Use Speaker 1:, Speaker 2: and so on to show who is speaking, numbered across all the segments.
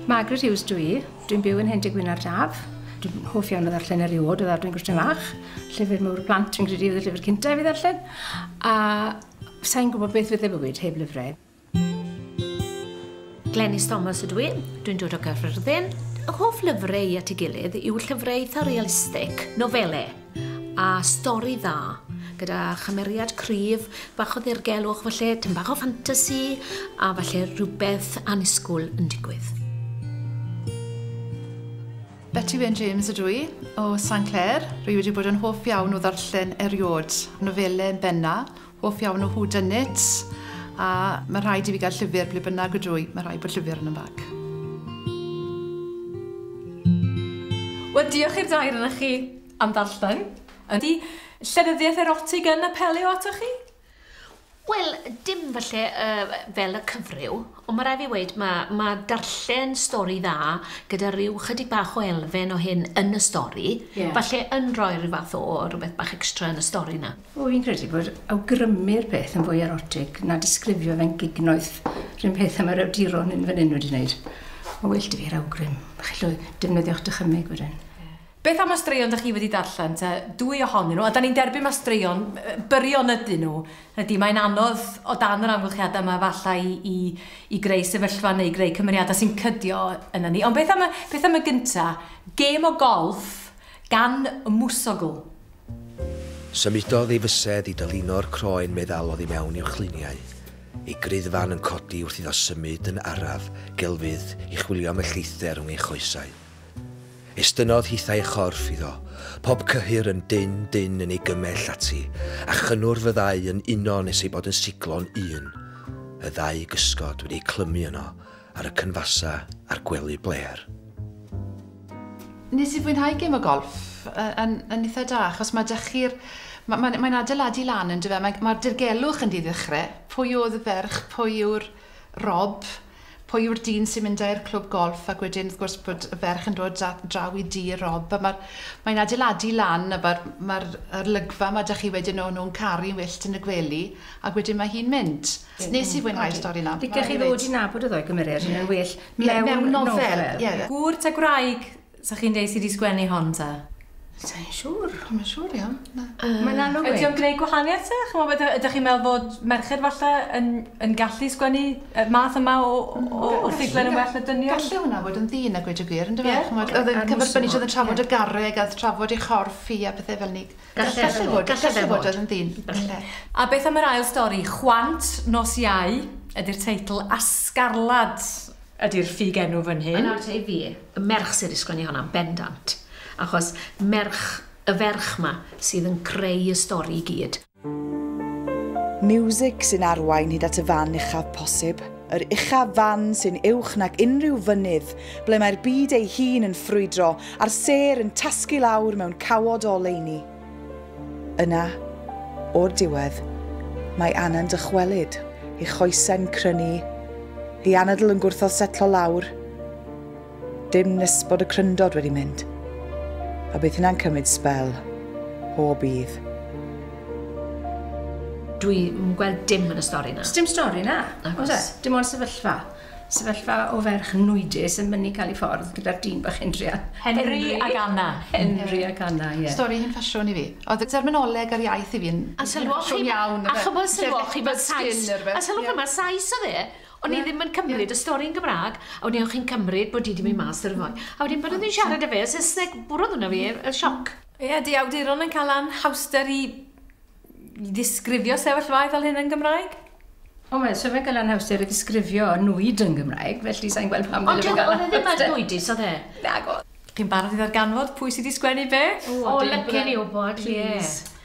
Speaker 1: Margaret Hughes dw i. Dwi'n byw yn Hen Dŷ Gwynardd Daf. Dwi'n hoff iawn o ddarllen eriôd o ddadwy'n gwestiwn fach. Llyfr mawr y plant dwi'n credu oedd y llyfr cyntaf i fi ddarllen. A sa'n gwybod beth fydde bywyd heb lyfrau.
Speaker 2: Glenys Thomas ydw i. Dwi'n dod o Gaerfyrddin. Fy hoff lyfrau i at ei gilydd yw llyfrau eitha' realistig, nofelau. A stori dda, gyda chymeriad cryf, bach o ddirgelwch falle, tyn bach o ffantasi, a falle rhywbeth anusgwl yn digwydd.
Speaker 3: Betty Wyn James ydw i, o San Clair. Rwy wedi bod yn hoff iawn o ddarllen eriod, nofelau yn benna, Hoff iawn o whodunits, a mae rhaid i fi gael llyfr ble bynnag ydw i, mae rhaid bod llyfr yn 'y mbag.
Speaker 4: Wel, diolch i'r dair onoch chi am ddarllen. Ydy llenyddiaeth erotig yn apelio atoch chi? Wel,
Speaker 2: dim falle yy fel y cyfryw, ond mae rhaid fi weud ma' ma' darllen stori dda gyda rhyw chydig bach o elfen o hyn yn y stori... Ie. ...falle yn rhoi rhyw fath o rywbeth bach extra yn y stori 'na. O, fi'n credu bod
Speaker 1: awgrymu'r peth yn fwy erotig na disgrifio fe'n gignoeth, rhywun peth am yr awduron yn fan hyn wedi wneud. Mae well dy fi'r awgrym, chi'n llwy, defnyddio'ch dychymyg wedyn. Beth am y straeon
Speaker 4: da chi wedi darllen te? Dwy ohonyn nhw, a da ni'n derbyn mae straeon byrion ydyn nhw. Ydy, mae'n anodd o dan yr amgylchiadau yma falle i, i, i greu sefyllfa neu greu cymeriadau sy'n cydio yna ni. Ond beth am y, beth am y gynta? Gêm o golf gan y mwsogl.
Speaker 5: Symudodd ei fysedd i dylino'r croen meddal oddi mewn i'w chluniau. Ei gruddfan yn codi wrth iddo symud yn araf gelfydd i chwilio am y lleithder rhwng ei choesau. Estynnodd hithau ei chorff iddo, pob cyhyr yn dynn dynn yn ei gymell ati, a chynnwrf y ddau yn uno nes ei bod yn siglo'n un. Y ddau gysgod wedi eu clymu yno, ar y cynfasau a'r gwely blêr.
Speaker 3: Nes i fwynhau gêm o golff yn yn itha da achos ma' 'da chi'r ma' mae'n mae'n adeiladu lan yndyw e? Mae ma'r dirgelwch yn ddiddechre. Pwy o'dd y ferch, pwy yw'r Rob, pwy yw'r dyn sy'n mynd â i'r clwb golff ac wedyn wrth gwrs bod y ferch yn dod da- draw i dŷ Rob a ma'r mae'n adeiladu lan a ma'r ma'r yr olygfa 'ma 'da chi wedyn o nhw'n caru'n wyllt yn y gwely ac wedyn ma' hi'n mynd. Ie. Nes i fwynhau'r stori 'na. Licech chi ddod i nabod y ddoe
Speaker 1: gymered hyn yn well mewn nofel. Mewn nofel ie. Gŵr ta
Speaker 4: gwraig sa chi'n deu sy 'di sgwennu hon ta? Sai'n
Speaker 1: siŵr. Dwi'm yn siŵr iawn,
Speaker 3: na. Mae'n anodd weud.
Speaker 1: Ydy o'n gwneud gwahaniaeth
Speaker 4: ta? Ch'mod ydych ydych chi'n meddwl fod merched falle yn yn gallu sgwennu y math yma o o o ffuglen yn well na dynion? Galle hwnna fod yn ddyn
Speaker 3: a gweud y gwir yndyfe? Ie. Ch'mod o'dd e'n cyfrbyniol o'dd yn trafod y garreg a o'dd trafod ei chorff hi a pethe fel 'ny. Gallai fod, gallai fod oedd yn ddyn, gallai. A beth am
Speaker 4: yr ail stori, Chwant Nos Iau ydi'r teitl a Sgarlad ydi'r ffug enw fan hyn. Nawr te i fi, y
Speaker 2: merch sydd wedi sgwennu honna yn bendant, achos merch, y ferch 'ma sydd yn creu y stori i gyd. Miwsig
Speaker 6: sy'n arwain hyd at y fan uchaf posib. yr uchaf fan sy'n uwch nag unrhyw fynydd, ble mae'r byd ei hun yn ffrwydro a'r sêr yn tasgu lawr mewn cawod o oleuni. Yna, o'r diwedd, mae Anna'n dychwelyd, ei choesau'n crynu, ei anadl yn gwrthod setlo lawr. Dim nes bod y cryndod wedi mynd. A bydd hynna'n cymryd sbel. O, bydd.
Speaker 2: Dwi yn gweld dim yn y stori na. Sdim stori na.
Speaker 1: Oes e? Dim ond sefyllfa. Sefyllfa o ferch nwydus yn mynd i cael ei ffordd gyda'r dyn bach hyn druan. Henry ac
Speaker 4: Anna. Henry ac Anna,
Speaker 1: ie. Stori hen ffasiwn i fi.
Speaker 3: Oedd y derminoleg a'r iaith i fi yn hen ffasiwn iawn. A chybod sylwoch chi,
Speaker 2: mae'r Sais... A sylwch chi, mae'r Sais oedd e. O'n i ddim yn cymryd y stori yn Gymraeg, a wedyn o'ch chi'n cymryd bod hi di mynd mas ar y ffordd. A wedyn bod nhw'n siarad â fe, Saesneg, bwrodd hwnna fi, y sioc. Ie, di awduron
Speaker 4: yn cael anhawster i ddisgrifio sefyllfaoedd fel hyn yn Gymraeg? O, mae so
Speaker 1: fe'n cael anhawster i ddisgrifio nwyd yn Gymraeg, felly sa'n gweld pam dyle fe gael anhawster. Ond oedd e ddim ar
Speaker 2: nwydus, oedd e? Nag oedd. Chi'n
Speaker 1: barod i
Speaker 4: ddarganfod pwy sydd wedi sgwennu beth? O, licen i
Speaker 2: wybod, ie.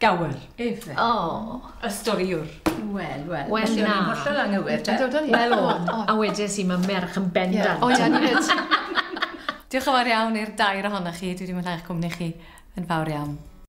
Speaker 4: Gawr. Efe. O!
Speaker 1: Y
Speaker 2: storïwr.
Speaker 4: Wel, wel. Wel, na.
Speaker 1: Felly, o'n i'n hollol
Speaker 2: anghywir, te.
Speaker 1: Wel, o'n. A
Speaker 2: wedes i, mae merch yn bendant. O, ie, ni fyd.
Speaker 4: Diolch yn fawr iawn i'r dair ohonoch chi.
Speaker 3: Dwi
Speaker 4: wedi mwynhau'ch cwmni chi yn fawr iawn.